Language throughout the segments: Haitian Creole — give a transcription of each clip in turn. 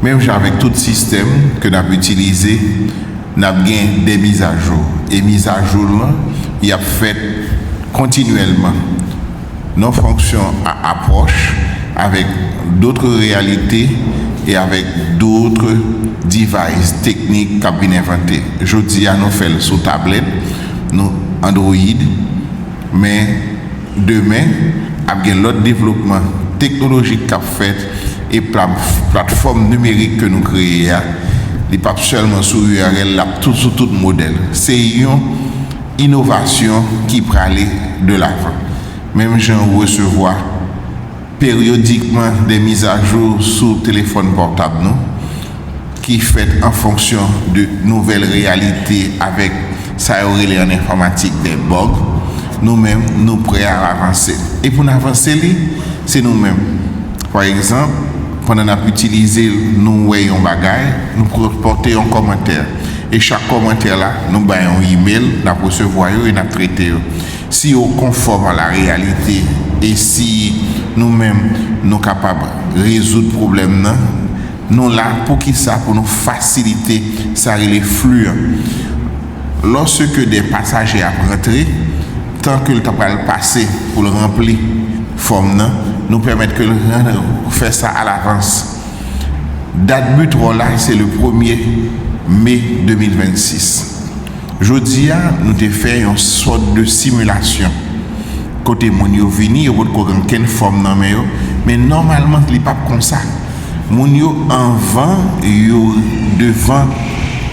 Menm jan avèk tout sistèm ke n ap itilize, n ap gen dè mizajou. E mizajou l lan, y ap fèt kontinyèlman. Non fonksyon a apwòch avèk dotre reyalite e avèk dotre device, teknik k ap vin envante. Jodi a nou fè l sou tablèt nou, Android, men. Demen, ap gen lòt devlopman teknolojik k ap fèt e platfòm nimerik ke nou kreye a, li p ap sèlman sou url, l ap sou tout modèl. Se yon inovasyon ki prale de lavan. Menm jan ou resevwa. Peryodikman de mizajou sou telefòn pòtab nou ki fèt an fonksyon de nouvèl reyalite avèk sa yo rele an enfòmatik de bug, nou menm nou prè al avanse. E pou n avanse li, se nou menm. Pa egzanp, pandan n ap itilize l nou wè yon bagay, nou pote yon kòmantè. E chak kòmantè la nou bay yon imel, n ap resevwa yo e n ap trete yo. Si yo konfòm a la reyalite e si nou menm nou kapab rezoud pwoblèm nan, nou la poukisa pou nou fasilite sa rele flu an? Lòseke de pasaje ap rantre, tan ke l ta pral pase pou l ranpli fòm nan, nou pèmèt ke l fè sa alavans. Dat but wò la se le premye me 2026. Jodi a, nou te fè yon sòt de simulasyon, kote moun yo vini, yo potko gen okenn fòm nan men yo, men nòmalman li pap konsa. Moun yo anvan yo devan,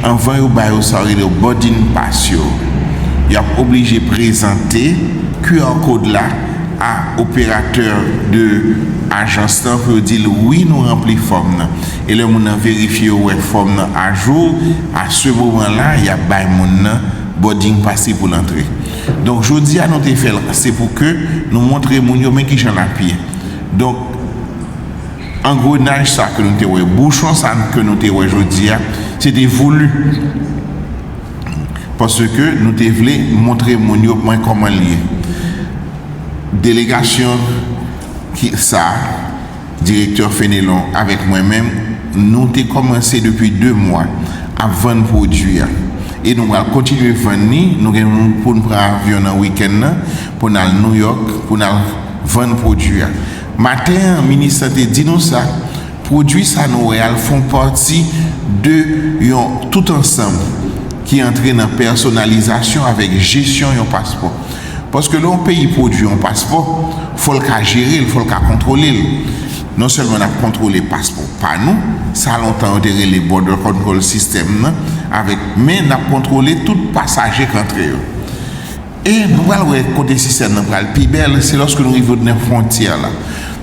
anvan yo ba yo sa yo rele yo boarding pass yo, yo ap oblije prezante QR code la a operatè de ajans lan pou yo di l wi nou ranpli fòm nan. E lè moun nan verifye yo wè fòm nan ajou, a se moman la y ap bay moun nan boarding pase pou l antre. Donk jodi a nou te fè l se pou ke nou montre moun yo men ki jan l ap ye. Donk angrenaj sa ke nou te wè, bouchon sa ke nou te wè jodi a, se te voulu. Paske nou te vle montre moun yo mwen kòman l ye. Delegasyon ki sa. Direktè Fenelon avèk mwen menm, nou te kòmanse depi 2 mwa ap vann pwodui a e nou pral kontinye vann li. Nou gen pou n pran avyon nan wikenn nan pou n al Nouyòk pou n al vann pwodui a. Maten an, minis la te di nou sa, pwodui sa nou wè a l fon pati de yon tout ansanm ki antre nan pèsonalizasyon avèk jesyon yon paspò. Paske lè yon peyi pwodui yon paspò, fò l ka jere l, fò l ka kontwole l. Non sèlman n ap kontwole paspò pa nou, sa lontan yo te rele Border Control System nan, avèk men n ap kontwole tout pasaje k antre yo. E nou pral wè kote sistèm nan pral pi bèl, se lòske nou rive odnè fwontyè la.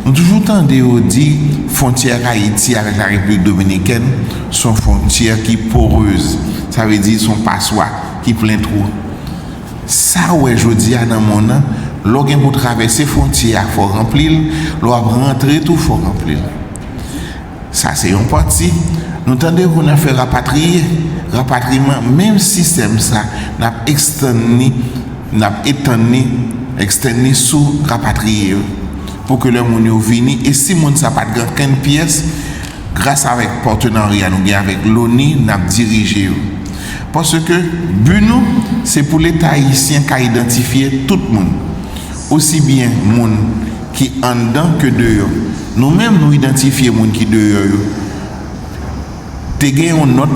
Nou toujou tande yo di fwontyè Ayiti avèk la Repiblik Dominikèn s on fwontyè ki poreuse, sa vle di s on paswa ki plen twou. Sa w wè jodi a nan monn an, lè w gen pou w travèse fwontyè a fò w ranpli l, lè w ap rantre tou fò w ranpli l. Sa se yon pati. Nou tande pou n fè rapatriye, rapatriman, menm sistèm sa n ap ekstann li, n ap etann li, extend li sou rapatriye yo pou ke lè moun yo vini e si moun sa pa t gen ankenn pyès, Gras avèk patenarya nou gen avèk Loni n ap dirije yo. Paske bi nou se pou Leta ayisyen ka idantifye tout moun, osi byen moun ki anndan ke deyò. Nou menm nou idantifye moun ki deyò yo. Te gen yon nòt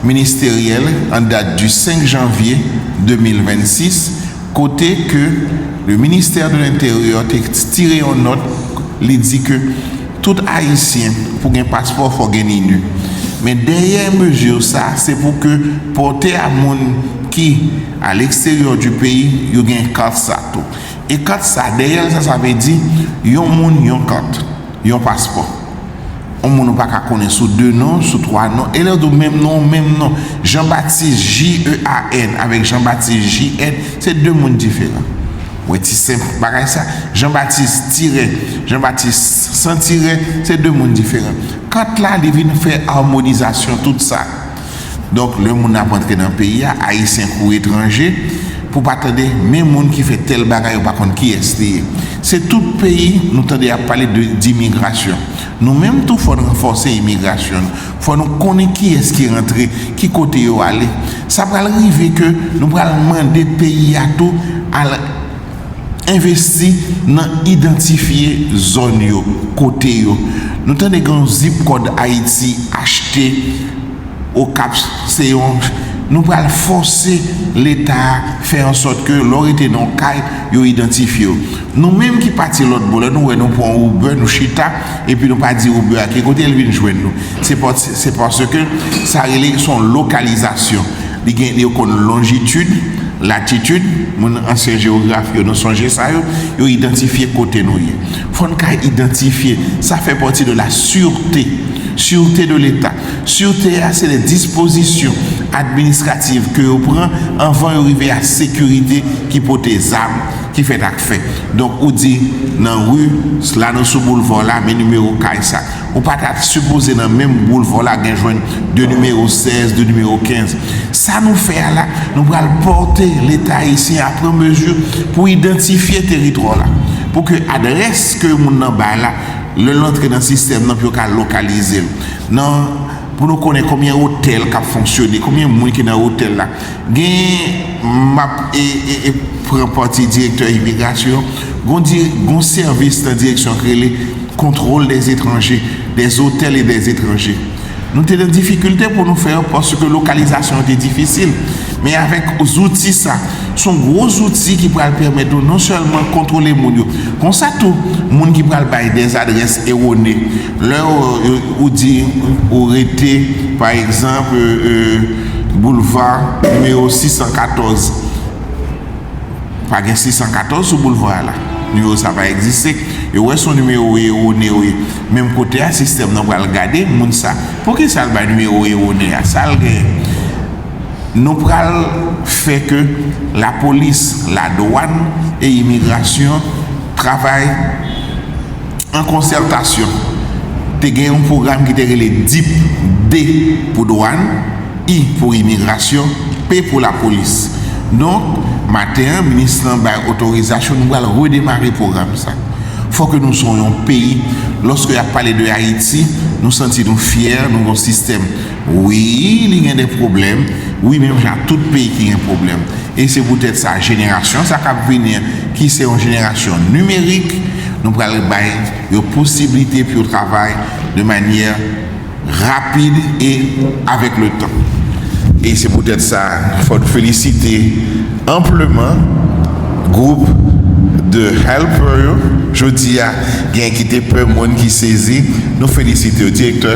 ministeryèl an dat di 5 janvye 2026 kote ke le ministère de l'intérieur te tire yon nòt li di ke Tout ayisyen pou gen paspò fò gen ninu men dèyè mezi sa se pou ke pòte a moun ki a leksteryò du peyi yo gen kat sa tou e kat sa dèyèl sa sa vle di yon moun yon kat yon paspò on moun ou pa ka konnen sou 2 non sou 3 non e lè yo di w menm non w menm non Jean Baptiste JEAN avèk Jean Baptiste JN se 2 moun diferan. Mwen ti senp bagay sa. Jean Baptiste tirè, Jean Baptiste san tirè se 2 moun diferan. Kat la li vin fè armonizasyon tout sa. Donk lè moun ap antre nan peyi a, ayisyen kou etranje, pou pa tande men moun ki fè tèl bagay yo pa konn kiyès li ye. Se tout peyi nou tande ap pale de dimigrasyon. Nou menm tou fòn ranfòse imigrasyon nou. Fò nou konnen kiyès ki rantre, ki kote yo ale. Sa pral rive ke nou pral mande peyi a tou al envesti nan idantifye zòn yo, kote yo. Nou tande gen yon zip kòd Ayiti achte Okap se yon, nou pral fòse leta a fè an sòt ke lè w rete nan yon kay yo idantifye w. Nou menm ki pati lòt bò lè nou wè nou pran yon Uber nou chita epi nou pa di Uber a ki kote l vin jwenn nou se paske sa rele se yon lokalizasyon li gen yo konn lonjitid latitid moun ansyen jewograf yo nou sonje sa yo yo idantifye kote nou ye fò n ka idantifye sa fè pati de la sirte sirte de leta sirte a se de dispozisyon administrativ ke yo pran anvan yo rive a sekirite ki pote zam. Ki fèt ak fè. Donk ou di nan ri s la nou sou boulva w la men nimewo kay sa. Ou pa ta sipoze nan menm boulva w la gen jwenn de nimewo 16, de nimewo 15. Sa nou fè a la, nou pral pòte Leta ayisyen a pran mezi pou idantifye teritwa w la. Pou ke adrès ke moun nan bay la, lè l antre nan sistèm nan pou yo ka lokalize l. Nan, pou nou konnen konbyen otèl k ap fonksyone, konbyen moun ki nan otèl la. Gen, m ap pran pati direktè imigrasyon, gon sèvis nan direksyon k rele Contrôle des étrangers, des hôtels et des étrangers. Nou te nan difikilte pou nou fè yo paske lokalizasyon an te difisil. Men avèk zouti sa, s on gwo zouti ki pral pèmèt nou non sèlman kontwole moun yo, konsa tou moun ki pral bay dè zadrès ewone, lè ou di ou rete pa egzanp. Boulva nimewo 614 Pa gen 614 sou boulva a la. Nimewo sa pa egziste. E wè son nimewo ewone wi. Menm kote a sistèm nan pral gade moun sa. Poukisa l bay nimewo ewone a? Sa l gen? Nou pral fè ke lapolis, ladwàn e imigrasyon travay. An konsètasyon, te gen yon pwogram ki te rele dip, D pou dwàn, I pou imigrasyon, P pou lapolis. Donk, maten an, minis lan bay otorizasyon, nou pral redemare pwogram sa. Fò ke nou son yon peyi, lòske y ap pale de Ayiti, nou santi nou fyè, nou gon sistèm. Wi li gen de pwoblèm wi menm jan ak tout peyi ki gen pwoblèm e se poutèt sa jenerasyon sa k ap vini an ki se yon jenerasyon nimerik nou pral bay yo posiblite pou yo travay de manyè rapid e avèk le tan e se poutèt sa fò n felisite anpleman gwoup de helper yo jodi a gen ki te pè moun ki sezi nou felisite yo direktè.